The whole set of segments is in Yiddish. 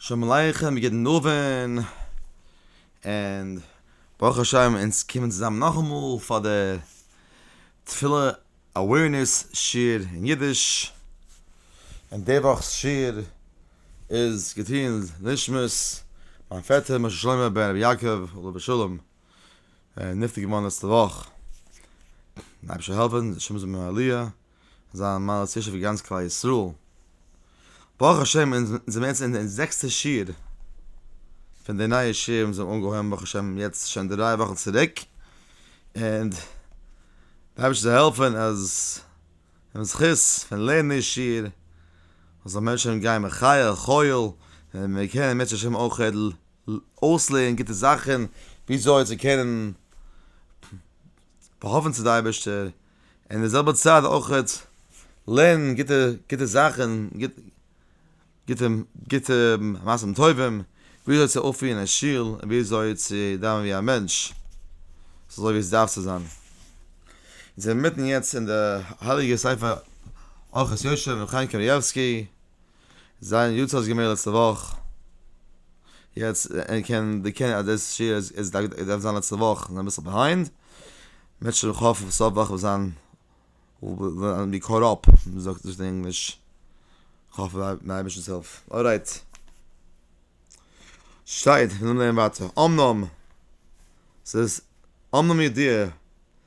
שלום עליכם גוטן אווען און ברוך השם אונז קומען צוזאם נאכאמאל פאר די תפילה אווערנעס שיעור אין אידיש און די וואכ'ס שיעור איז געטוען לנשמת מיין פעטער משה שלמה בן רבי יעקב עליו השלום נפטר געווארן לעצטע וואך די אייבערשטער זאל העלפן די נשמה זאל האבן א עליה זיין מעלת ישע פאר גאנץ כלל ישראל. ברוך השם אונז זעמיר יעצט אין די זעקסטע שיעור פון די נייע שיעורים וואס מיר האבן אנגעהויבן ברוך השם יעצט שוין דריי וואכן צוריק, און די אייבערשטער זאל העלפן אז דעם זכות פון לערנען די שיעור זאל מענטשן גיין מחיל אל חיל, און מיר קענען בעזרת השם אויך אויסלערנען גוטע זאכן וויאזוי צו קענען פארהאפן צו די אייבערשטער אין די זעלבע צייט אויכעט לערנען גוטע גוטע זאכען, גוט גוטע גוטע מעשים טובים, ווי אזוי צו אויפפירען אין שול, און ווי אזוי צו דאווענען ווי א מענטש, אזוי ווי עס דארף צו זיין. אונז זענען מיטן יעצט אין די הייליגע ספר אורחות יושע פון חיים קנייבסקי, זיין יו ט האסט געמעקט לעצטע וואך, יעצט קען די קען אז דאס שיעור איז איז דארף געווען זיין לעצטע וואך און אביסל ביהיינד, מען זאל האפן סוף וואך וועט זיין ווען ווי קאט אפ ווי מען זאגט דאס אין ענגליש, כ'האף מיט די אייבערשטנ'ס הילף, ארייט. שטייט, מיר זאלן לערנען ווייטער, אמנם ס'איז אמנם ידיעה.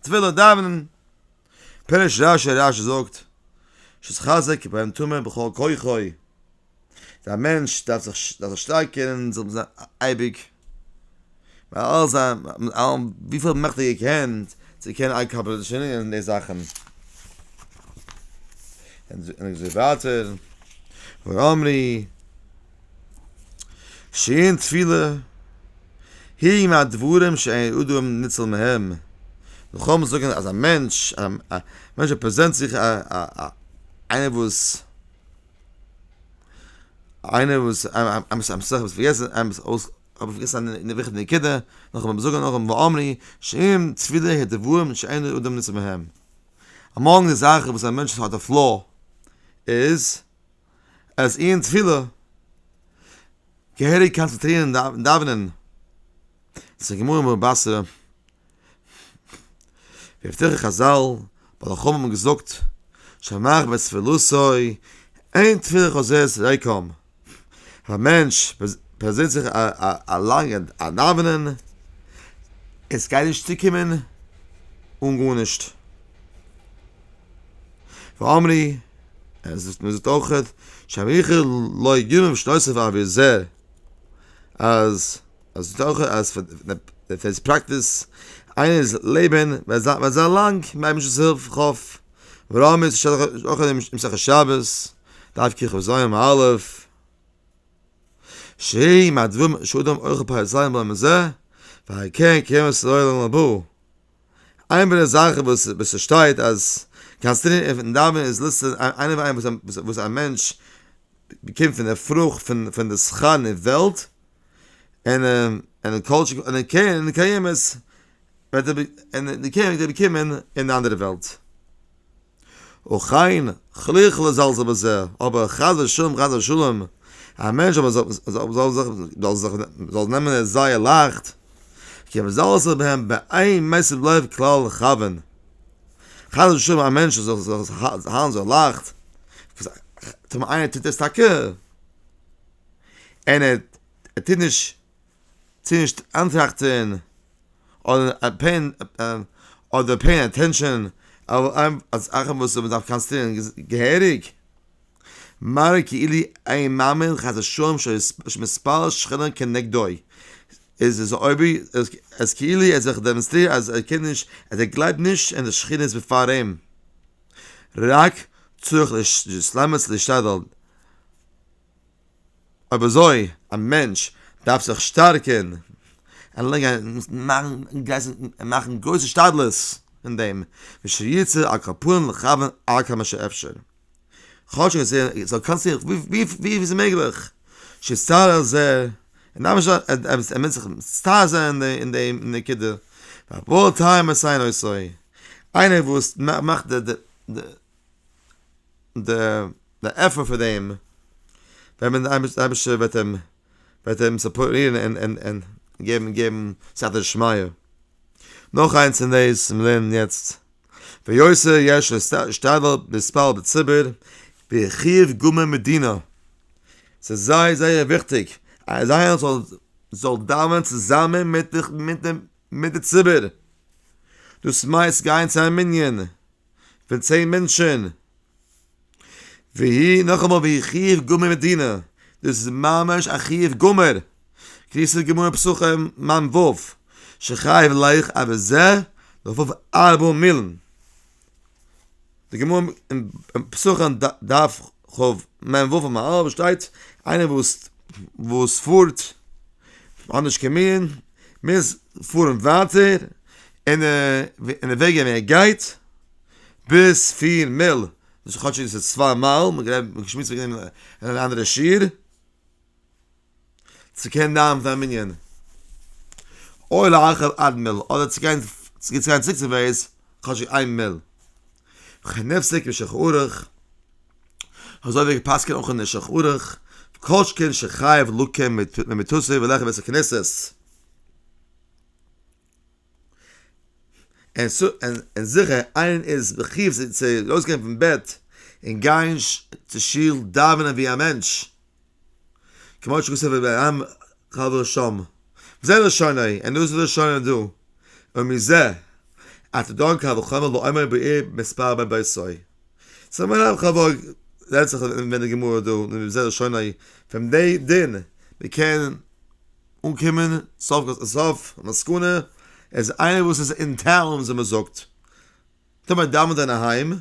תפילה דאווענען פירוש רשי רשי זאגט שיתחזק ביים טומאה בכל כוחו דער מענטש דארף זיך דארף זיך שטארקען און זאל זיין אייביג מיט אלע זיין מיט אלע וויפיל מעכטיגע קענט צו קענען אקאמפלישען אין די זאכן און ער זאגט ווייטער ואמרי שעה'ן תפילה, היא מהדברים שאין אדם ניצל מהם, מ'קען זאגן אז א מענטש, א מענטש וואס פרעזענט זיך א א איינער וואס, איינער וואס האב איך פארגעסן א וויכטיגע נקודה, נאכאמאל מיר זאגן נאכאמאל ואמרי שעה'ן תפילה היא הדברים שאין אדם ניצל מהם, אמאנג די זאכן וואס א מענטש האט א פלא איז אז איר אין תפילה געהעריג קאנצענטרירן און דאווענען צום גמרא בבא בתרא, ווי אפטער חזל בעל החכמה האבן געזאגט שמח בתפלתו אין תפילה חוזרת ריקם, אז א מענטש פארזינט זיך א לאנגע דאווענען, עס גייט נישט צוקומען אן גארנישט. ואמרי, ער זאגט מיר זאגט אויכעט, שאריכא לא יגרום שנותיו אבי זר, אז ער זאגט אויכעט אז ווען עס פראקטיס איינערס לעבען וועט זיין לאנג מיט אייבישטער'ס הילף ח ו, ורמז ש אויכעט אין מסכת שבת, דף ככ ז עמ' א', שהעי מהדברים שאדם אוכל פר' זיין בלע מ ז, ועל כן כרמז צו לעולם הבא. איין פון די זאכן וואס וואס ס'שטייט אז קאנסטענטין און פון דאווענען איז לסת איינער פון איינעם וואס א וואס א מענטש באקומט פון די פרוכט פון פון די שכר נער וועלט און און כל שכ און קרן קיימת וועט ער און די קרן וועט ער באקומען אין די אנדערע וועלט. וכן, חליכ ל זאלסט אבער זע, אבער חס ושלום חס ושלום, א מענטש אבער זאל זיך זאל זיך זאל נעמען עס זייער לייכט, כי מ זאל זיך בהם באין משים לב כלל לכוון, חס ושלום א מענטש זאל זיך האלטן זייער לייכט, טאמער איינער טוט עס טאקע, און ער טוט נישט. צו נישט אנטראכטען אדער פעין אדער פעין אטענשען אויף זאכען וואס מען דארף קאנסידערען געהעריג, מראה כאילו אין מאמין חס ושלום שיש מספר שכנים כנגדו, איז עס אויבי אז כאילו ער זיך דעמאנסטרירט אז ער קען נישט אז ער גלייבט נישט אין די שכינות בעפאר אים, רק צריך להשתדל. אויב אזוי א מענטש דארף זיך שטארקען און מאכן גרויס השתדלות אין דעם, ושיצא על כפו לכוון עד כמה שאפשר, כאטשיג עס זאל קאסטן ווי פיל ס'איז מעגליך, שיצטער על זה, ער דארף נישט ער מוז זיך מצטער זיין אין די נקודה, והבא טעם עשה אינו עושה, איינער וואס מאכט די. די די עפר פון דעם ווען מען אייביג די אייבישטער וועט אים וועט אים סופארירן און און און געבן געבן סייעתא דשמיא. נאך איינס אין דעיס וואס מיר לערנען יעצט, ויוצא יש להשתדל להתפלל בציבור בחיוב גמור מדינא, ס'איז זייער זייער וויכטיג אז איינער זאל זאל דאווענען צוזאמען מיט די מיט די מיט די ציבור, דאס מיינסט גיין צו א מנין? פון צען מענטשען. והיא נאכאמאל והיא חיוב גמור מדינא, דאס איז ממש א חיוב גמור, קריסת גמור פסחים מנ ו, שחייב לייך א וזה לפוב ארבע מילן, די גמור אין פסחים דארף חב מ וו פון מהר א שטייט איינער וואס וואס פארט אנדערש כמיון מוז פארן ווייטער אין די וועגען ווי ער גייט ביז פֿיר מיל וואס כאטשיג עס איז צוויי מייל מען האט געשמועסט וועגען דעם אין אן אנדערע שיעור. צו קענען דאווענען פאר א מנין, אויל להרחיב עד מיל, אדער צו גיין צו גיין צוריק צו בעיס כאטשיג איין מיל, וכן נפסק אין שולחן ערוך, אזוי ווי געפסקענט אויך אין שולחן ערוך, כל שכן שחייב לקום ממיטתו וללכת בית הכנסת. און זיכער איין איז בחיוב זיך צו ארויסגיין פון בעט און גיין צו שול דאווענען ווי א מענטש, כמו שכתוב אויף די עם חברו שם, זה לשונו, און דאס איז לשונו דא, ומזה אתה דן קל וחומר לעומר בעיר מספר בן ביתו, ס'איז מיין עם חברו רעדט זיך ווען די גמרא דא, וזה לשונו, פון דעי דין, מ'קען. אנקומען סוף כל סוף מסקנה אז איינער וואס איז אין טאון ווי מען זאגט טאר מען דאווענט אין א היים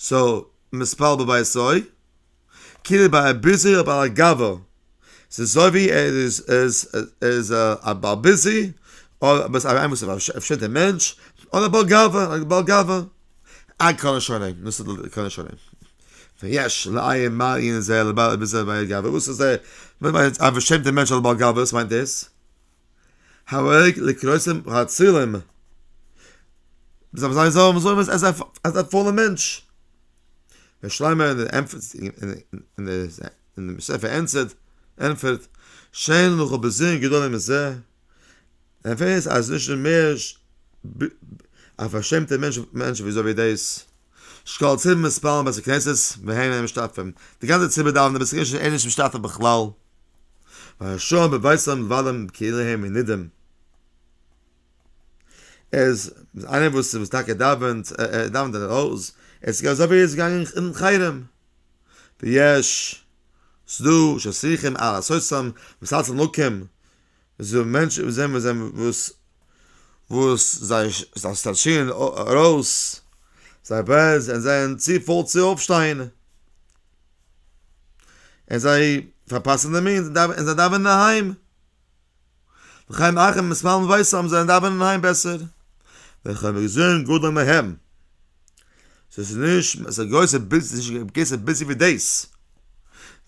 סאו מ'ספאלט בביתו כאילו ביי א ביזי אויף בעל הגאווה ס'איז אזוי ווי ער איז איז איז א בעל ביזי אדער א איינער וואס איז א פשוטע מענטש אדער בעל גאווה בעל גאווה עד כאן השלם נאר ס'דא כאן השלם. ויש לעיין מעיין זה לבעל אבן זה בעי' גאווה, וואס איז ער מיינט א פארשעמטע מענטש אדער בעל גאווה, וואס מיינט דאס? הערג לכרסם האצילם, מ'זאל אים זיין זאל זאגן אז ער איז א פולער מענטש, ר' שלמה אין דעם ספר ענטפערט, ענטפערט, שאין לך בזיון גדול מזה, ער ווייס אז נישט מער א פארשעמטע מענטש וויאזוי ווי דאס. שקל צווי מספר בתי כנסת והן אין משתתפים, די גאנצע ציבור דאווענט אין בית הכנסת אין נישט משתתף בכלל, והשאר בביתם מבלים בקהליהם מנידם, איז איינער וואס וואס טאקע דאווענט ער דאווענט אין הויז, עס איז געווען אזוי ווי ער איז געגאנגען אין חרם, ויש ס'דא שצריכים על לעשות'ם מסלצים לקים עס איז דא מענטשן וואס זעהן זיי וואס וואס זיי סטראשען ארויס זיי בייז און זיי זענען צו פויל צו אויפשטיין און זיי פארפאסן די מינוט און זיי דאווענען אהיים חיים אחים מיט סמייל און ווייס האבן זיי דאווענען אהיים בעסער ווען כ'האב געזעהן גדול מהם. ס'איז נישט, עס איז גרויסע ביז נישט געבן געסט ביזי ווי דעיס.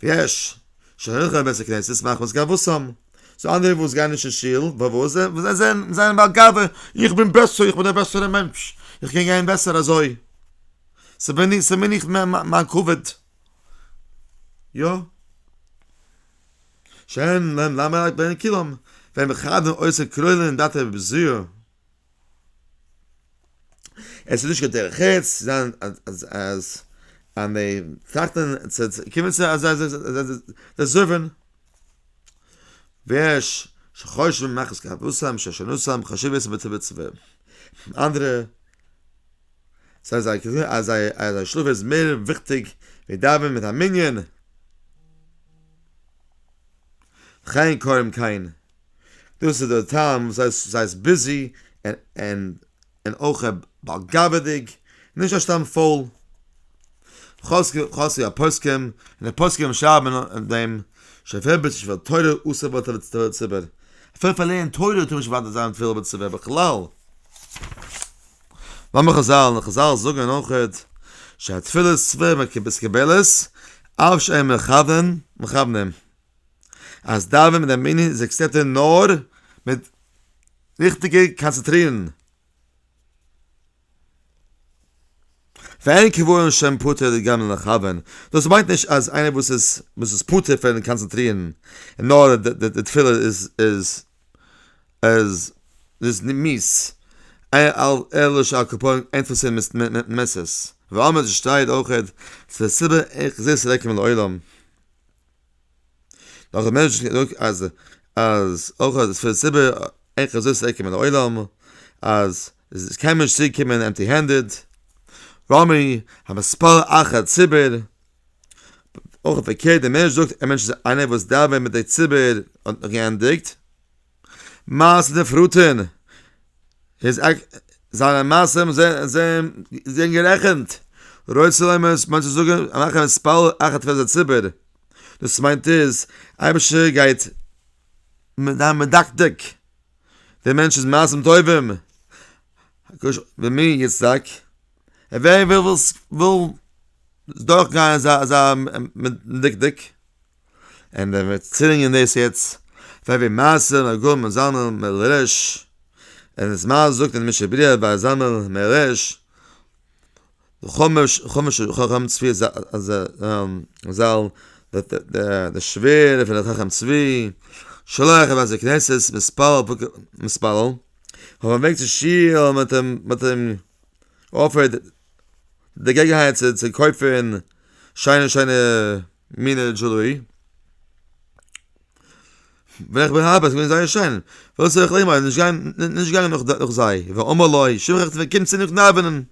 ויש שרינך אין בית הכנסת מחמת גאוותן. ס'איז אנדערע וואס גייען נישט אין שול, ווייל וואס זיי זענען זיי זענען בעל גאווה, איך בין בעסער, איך בין דער בעסערע מענטש, איך קען גיין בעסער אזוי. ס'בין איך, ס'בין איך מיין כבוד. יא. שאין להם למה רק בעין כולם, ווען מ'חד און אויסער קרוילען אין דאטע בזיעה. עס איז נישט קיין דרך ארץ צו זיין אז אז אז מען טראכט און קומען צו אז אז זיי זאגן ווער שחושבים מאכעס קאפוסאם ששנוסאם חשוב עס מיט צו ווערן אנדערע זיי זיי קענען אז זיי אז זיי שלאף איז מער וויכטיג ווי דאווענען מיט א מנין חיין קוים קיין דאס איז דער טעם וואס זיי איז ביזי און און אויך בעל גאווה'דיג, נישט א סתם פאול חסר הפוסקים, און די פוסקים שרייבן דעם שפל בית שפל תורה אסור בו תורה ציבור, אפילו פאר לערנען תורה טאר מען נישט באדערט זיין תפילה בציבור בכלל, מאמר חזל, חזל זאגן אויך שהתפילות ציבור מקובלת אף שאין מכוונים, אז דאווען מיט א מנין איז עקסעפטעד נאר מיט ריכטיגע קאנצעטרירן. ואין קבורין שם פטור לגמרי לכוון, דאס מיינט נישט אז איינער וואס איז וואס איז פטור פון קאנצעטרירן און נאר די תפילה איז איז איז איז מיאוס, אלא שעל כפרים אין תפיסה מס' ואמר די שטייער אויכעט, ס'איז א סיבה איך זיץ רעק מן העולם. נאך א מענטש געזאגט אז אז אויך אז פון די סיבה אין חזית צו עקעמען די עולם אז עס קען מען נישט צוריק קומען עמטי הענדעד רמי המספר אחת ציבור אויך פארקערט די מענטש זאגט א מענטש איז איינער וואס דאווענט מיט די ציבור האט נאך געענדיגט. מעשה דער פראטען איז עק זיינע מעשים זענען גערעכענט רוצה לומר מאנכע זאגען מאכען מספר אחת פון די ציבור דאס מיינט איז אייבישטער גייט זיין מדקדק די מענטש איז מעשים טובים ומי יצדק און ווער וויל דורך גיין אזא מדקדק. און ווען מיר צולינגען דאס יעצט פאר ווי מעשה מגור מיט זלמן מלרש און וואס מע זאגט אין משנה ברורה ביי זלמן מלרש חומש חומש חכם צבי זל די שווער פון דער חכם צבי שולח אין בתי כנסת מספר מספר אויף א וועג צו שיל מיט אים מיט אים אויף די געגענהייט צו קויפען שיינע שיינע מינע דזשולערי. ווען איך בין אריין איז געווען זייער שיין. וואס זאל איך לייגן ווייל איך בין נישט געגאנגען נאך זיי. ואמר לו, שמחה צו קומט צו מיך דאווענען.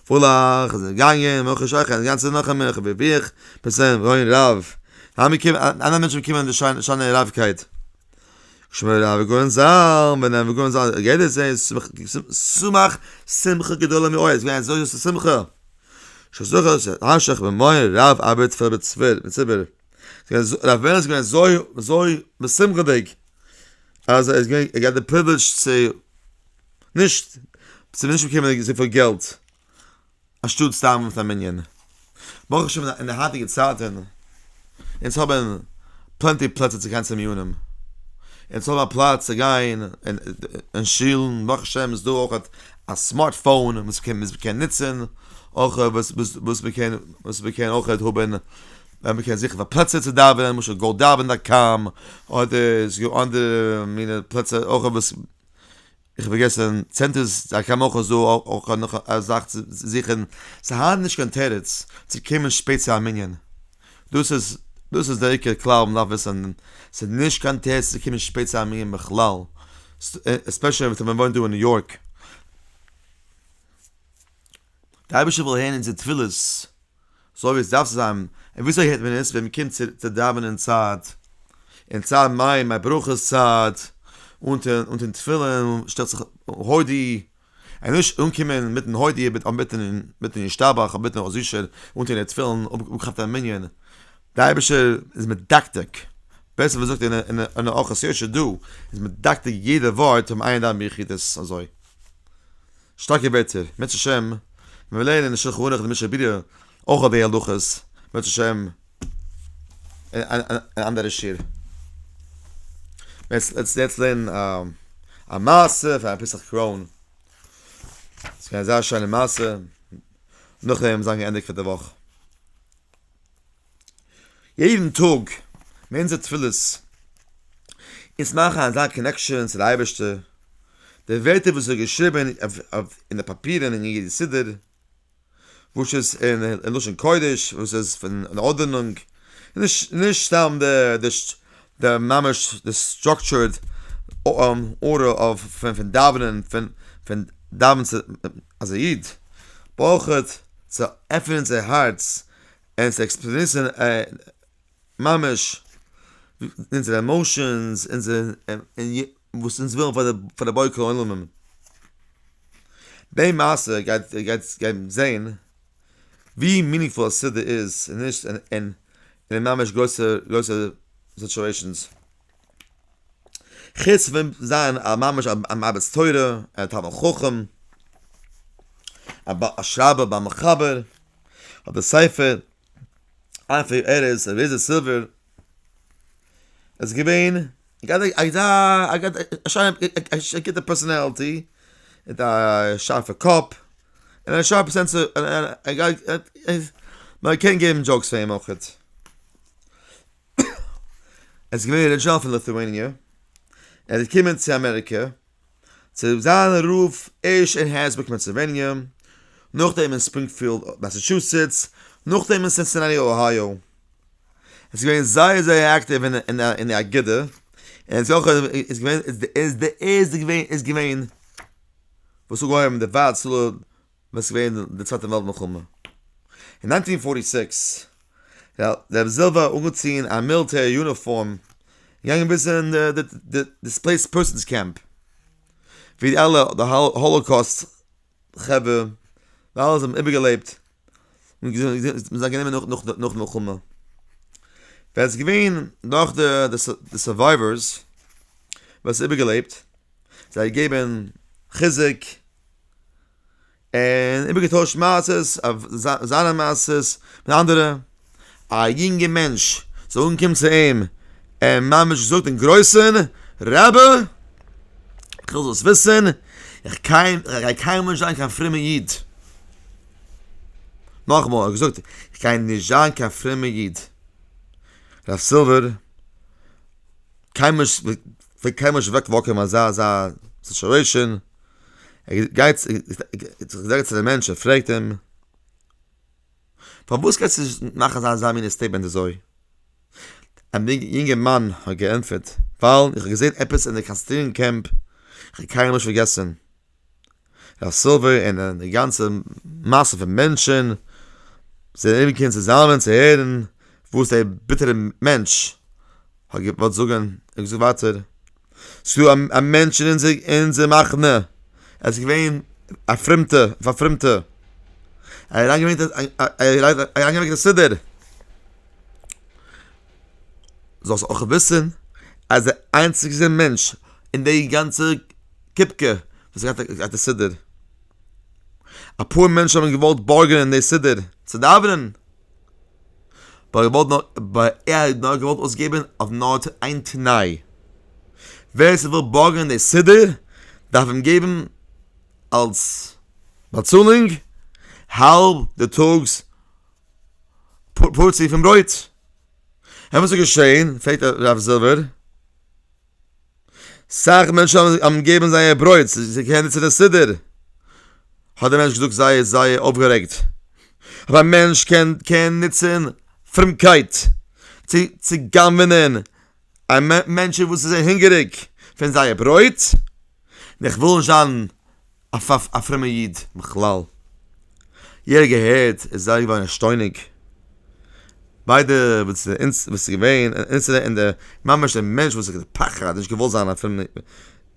פרלעך איז געגאנגען, מאך איך שכח די גאנצע נאך אמער איך בין ווי איך בין צום רייען רב. האמיר קומען אנדערע מענטשן קומען אין די שיינע רייפקייט. שמעון רב איז געווען זר, ווען ער איז געווען זר געדענקט זיי, סמך שמחה גדולה מאוד, עס איז געווען אזוי גרויסע שמחה. שזכה שתשך במאור רב אבד צפת בית צפת בית צפת רב ווער איז געווען אזוי אזוי משמחה'דיג אז ער איז געווען ער געהאט די פריווילעדזש צו נישט צו נישט באקומען אזויפיל געלט אנשטאט סתם מיט א מנין ברוך השם אין די היינטיגע צייטען אונז האבן פלענטי פלעצער צו גיין צו מיונים, אונז האבן א פלאץ צו גיין אין שולן, ברוך השם איז דא אויך א סמארט פאון וואס מען קען נוצן, אויך וואס מען קען וואס מען קען אויך האבן ווען מען קען זיכן פאר פלעצער צו דאווענען, למשל גאו דאווען דאט קאם, אדער ס'דא אנדערע מיני פלעצער אויך וואס. איך האב פארגעסען, צענטערס א כמה אויך איז דא אויך נאך א זאך צו זיכען, ס'איז היינט נישט קיין תירוץ צו קומען שפעט צו א מנין, דאס איז דאס איז דער עיקר כלל וואס מ'דארף וויסען, ס'איז נישט קיין תירוץ צו קומען שפעט צו א מנין בכלל, עספעשעלי ווען מ'וואוינט דא אין ניו יארק. די אייבערשטער וויל הערן אונזער תפילות. אזוי ווי עס דארף צו זיין, און וויאזוי הערט מען עס ווען מען קומט צו דאווענען צייט, אין צד מי מיין ברכות צייט, אונטען אונטען תפילין שטעלט זיך הודי, און נישט אנקומען מיטן הודי מיט מיטן ישתבח און מיטן רז ישר אונטען די תפילין אפגעכאפט אין מנין, די אייבערשטער איז מדקדק, בעסער ווי מ'זאגט אין ארחות יושר דא, איז מדקדק יעדע ווארט אום עיין ד' ביחידות אזוי. שטארקע ווערטער, בעז השם ווען מיר לערנען אין שלחן ערוך די משנה ברורה אויך אויף די הלכות, בעז השם אין אנדערע שיעור. יעצט לעטס יעצט לערנען א א מעשה פאר א פסח קרוין, ס'איז געווען א זייער שיינע מעשה, נאכדעם זיין געענדיגט פאר די וואך. יעדן טאג מיט אונזער תפילות אונז מאכן אזא קאנעקשאן צו די אייבערשטער, די ווערטער וואס איז געשריבען אין די פאפירען אין יעדע סידור, וואס איז אין לשון קודש, וואס איז פון אן ארדענונג, נישט סתם די ממש די סטראקטשור'ד ארדער פון דאווענען, פון דאווענען צו אז א איד ברויך צו עפענען זיין הארץ, עס עקספרעסן ממש אונזערע עמאושענס, אונזער וואס אונז ווילן פאר די בורא כל עולמים. די מעשה גייט גייט גייט זעהן ווי מינינגפול א סידור איז און נישט און און ממש גרויסע גרויסע סיטואעישאנס. חוץ פון זיין א ממש א מרביץ תורה, א תלמיד חכם, א שרייבער ביי מחבר. האט דער ספר אלפי הערות ר' אליעזר סילווער איז געווען א גוטע פערסאנעלטי מיט א שארפע קאפ און א שארפע סענס און מען קען געבן דזשאוקס פאר אים אויך. ער איז געווען ארידזשינעל פון ליטואעניע, ער איז געקומען צו אמעריקע, צו זיין רב ערשט אין הערצבורג פענסילוועניע, נאכדעם אין ספרינגפיעלד מאסעטשוסעטס, נאכדעם אין סינסינאטי אוהייאו. ער איז געווען זייער זייער אקטיוו אין די אגודה, און ער איז אויך איז געווען איז די ערשטע געווען וואס אנגעהויבן די ווייט צאל ווען ס'איז געווען די צווייטע וועלט מלחמה אין ניינטין פארטי סיקס, דער זעלבע האט אנגעטון א מיליטער יוניפארם געגאנגען ביז אין די דיספלעיסד פערסאנס קעמפ, ווי די אלע האלאקאוסט חברה די אלע זענען איבערגעלעבט נאכן מלחמה, ווער ס'איז געווען נאך די סורווייווערס וואס איבערגעלעבט זיי געבן חיזוק. און איבערגעטוישט מעשה'ס אויף זיינע מעשה'ס מיט אנדערע, א יונגע מענטש זאל אנקומען צו אים און ממש זאגט אין גרויסן, רבי איך וויל זאלסט וויסן איך גיי קיינמאל נישט זיין קיין פרומער איד, נאכאמאל ער האט געזאגט איך גיי נישט זיין קיין פרומער איד, רב סילווער קיינמאל נישט וועט קיינמאל נישט אוועק וואקן אזא אזא סיטואעישאן. ער גייט זאגט צו די מענטש ער פרעגט אים פארוואס קענסטו נישט מאכן אזא אזא מינע סטעיטמענט אזוי און די יונגערמאן האט געענטפערט ווייל איך האב געזען עפעס אין די קאנצעטרירונג קעמפ איך האב קיינמאל נישט פארגעסן ר' סילווער און די גאנצע מאסע פון מענטשען זענען אומגעקומען צוזאמען צו הערן וואס דער ביטערע מענטש האט געוואלט זאגן ער האט געזאגט ווייטער צו א מענטש אין אונזער אין אונזער מחנה ער איז געווען א פרומטע פארפרומטע ער האט אריינגעברענגט אריינגעברענגט א סידור זאלסט אויך וויסן אז דער איינציגסטער מענטש אין די גאנצע קופקע וואס האט געהאט די סידור אפאר מענטשן האבן געוואלט בארגענען די סידור צו דאווענען בה ער וואלט נאר געוואלט אויסגעבען אויף נאר איין תנאי, ווער ס'וויל בארגענען די סידור דארף אים געבען אלס באצאלונג האלב די טאגס פארציע פון ברויט. און וואס איז געשעהן פרעגט הרב זילבער. סאך מענטשן האבן געגעבן זייער ברויט צו קענען צו די סידור, האט דער מענטש געזאגט זייער זייער אויפגערעגט, אויב א מענטש קען קען נוצען פרומקייט צו צו גנב'נען א מענטשן וואס איז זיי הונגעריג פון זייער ברויט, איך וויל נישט זיין. אויף אויף א פרומער איד בכלל. יעדער געהערט איז זייער געווארן ערשטוינוג. ביידע וואס אונז וואס איז געווען אונזערע אין די ממש די מענטש וואס איז פחד נישט געוואלט זיין א פרומער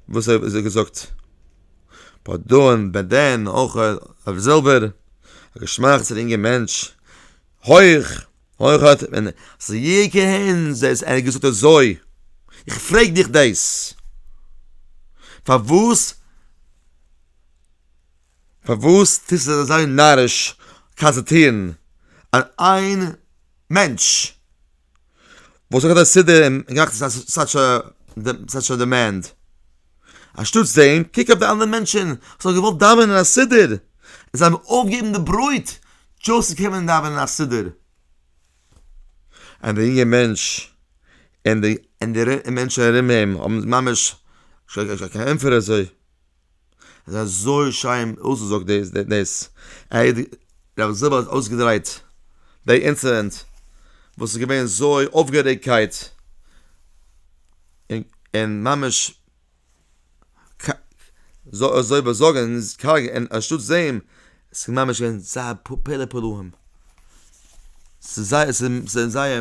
וואס האט ער געזאגט. ביי דאן ביי דען אויך אויף זעלבער געשמאכט אינגער מענטש הויך. אויך האט מען זייער ערענסט דאס ער האט געזאגט אזוי, איך פרעג דיך דאס, פארוואס פארוואס טוסטו זיך אזוי נאריש קאנצעטרירן אויף איין מענטש וואס האט געהאט א סידור און געמאכט סאטש א דימענד? אנשטאטס דעם קוק אויף די אנדערע מענטשען וואס האבן געוואלט דאווענען א סידור און זיי האבן אויפגעגעבן די ברויט דזשאסט צו קומען דאווענען א סידור און די יונגע מענטש און די און די און מענטשען ארום אים האבן ממש שוין קיין ענטפער אזוי איז אזוי שיין אויסגעזאגט דאס דאס איי רבי זיבעל האט אויסגעדרייט די אינצידענט וואס איז געווען אזוי אויפגערעגטקייט. און ממש אזוי וואס זאגן איז קארג און אנשטאטס דעם ס'איז ממש געווען זייער פלא פלאים, ס'איז זייער ס'איז זייער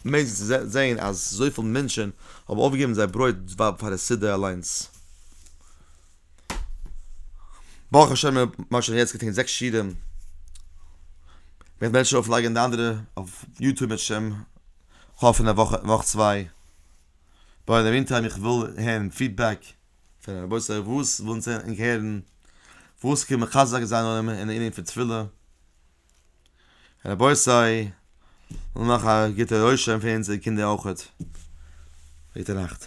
מעגליך צו זען אז אזויפיל מענטשן האבן אויפגעגעבן זייער ברויט פאר די סידור אליינס. ברוך השם מיר האבן שוין יעצט געטון זעקס שיעורים, איך וועל שוין אויפלייגן די אנדערע אויף יוטוב בעזהשם כאפ אין א וואך וואך צוויי בה אין די מין טיים איך וויל הערן פידבעק פון די רבותי וואס ווילן זען און הערן וואס קען מחזק זיין אונעם אין די ענין פון תפילה רבותי נאך א גוטע רושם פון אונזערע קינדער אויכעט גוטע נאכט.